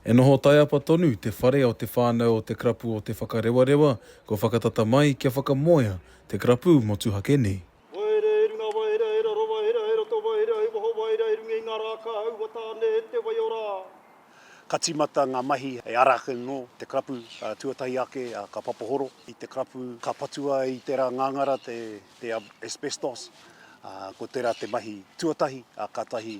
E noho taiapa tonu te whare o te whānau o te Karapu o Te Whakarewarewa kua whakatata mai kia whakamoea te karapu motuhake nei. Waerea i runga Waerea i raro Waerea i roto Waerea i waho Waerea i runga i ngā rā ka aua tāne e te wai o rā. Ka tīmata ngā mahi e ara ake nō te karapu tuatahi ake ka papahoro i te karapu ka patua i tērā ngāngara te asbestos ko tērā te mahi tuatahi kātahi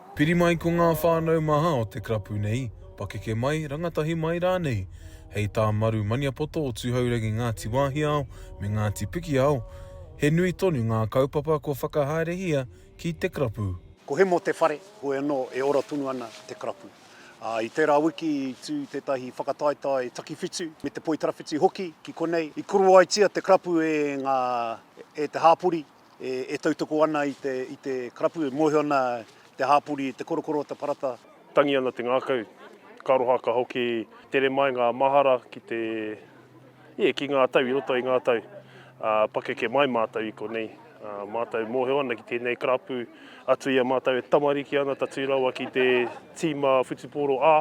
Piri mai ko ngā whānau maha o te karapu nei, pakeke mai, rangatahi mai rānei, hei tā Maru Maniapoto o Tūhourangi Ngāti Wāhiao me Ngāti Pikiao, he nui tonu ngā kaupapa kua whakahaerehia ki te karapu. Ko Hemo te whare, hoi anō, e ora tonu ana te karapu. Ā, i tērā wiki i tū tētahi whakataetae takiwhitu me te poitarawhiti hoki ki konei. I koroaitia te karapu e ngā, e te hāpori. E tautoko ana i te, i te karapu, e mōhio ana te hāpori i te korokoro o te parata. Tangi ana te ngākau, ka aroha ka hoki tere mai ngā mahara ki te, yeah, ki ngā tau, i roto i ngā tau. Pakeke mai mātou i konei. Mātou mōhio ana ki tēnei karapu, atu i a mātou e tamariki ana, tatū rawa ki te tīma whutupōro, ā,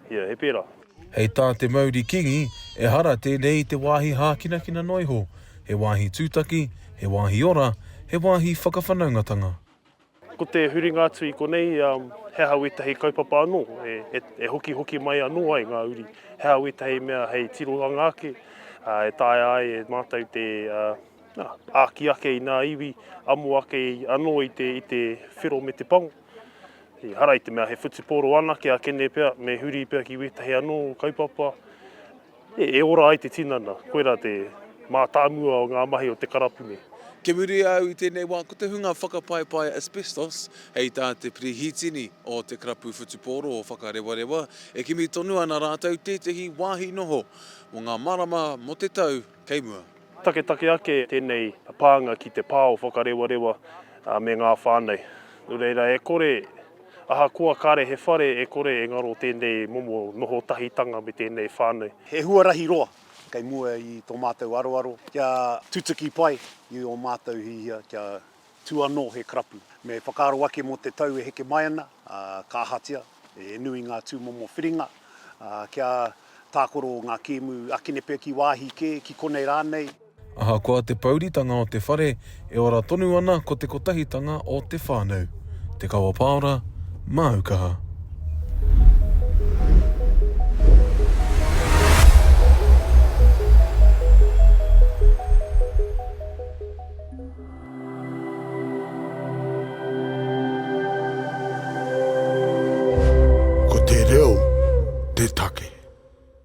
yeah, he pērā. Hei tā te mauri kīngi, ehara tēnei i te wāhi hākinakina noa iho, he wāhi tūtaki, he wāhi ora, he wāhi whakawhanaungatanga. Ko te huringa atu i konei, he aha wētahi kaupapa anō e hokihoki mai anō ai ngā uri, he aha wētahi mea hei tirohanga ake e taea ai e mātou te āki ake i ngā iwi, amo ake anō i te whero me te pango. Ehara i te mea he whutupōro anake a Kene pea, me huri pea ki wētahi anō kaupapa e ora ai te tinana, koirā te mātāmua o ngā mahi o te karapune. Kia muri au i tēnei wā ko te hunga whakapaipai asbestos hei tā te Pirihitini o te Karapu Whutupōro o Whakarewarewa e kimi tonu ana rātou tētehi wāhi noho mō ngā marama mō te tau kei mua. Taketake ake tēnei pānga ki te pā o Whakarewarewa me ngā whānau. Nō reira, e kore, ahakoa kāre he whare, e kore e ngaro tēnei momo noho tahitanga me tēnei whānau. He huarahi roa kei mua i tō mātou aroaro kia tutuki pai i ō mātou hiahia kia tū anō he karapu. Me whakaaro ake mō te tau e heke mai ana, ā, ka ahatia, He nui ngā tūmomo whiringa, ā, kia tākoro ngā kēmu akene pea ki wāhi kē, ki konei rānei. Ahakoa te pouritanga o te whare, e ora tonu ana ko te kotahitanga o te whānau. Te Kawa Paora, māu kaha. Ko te reo te take.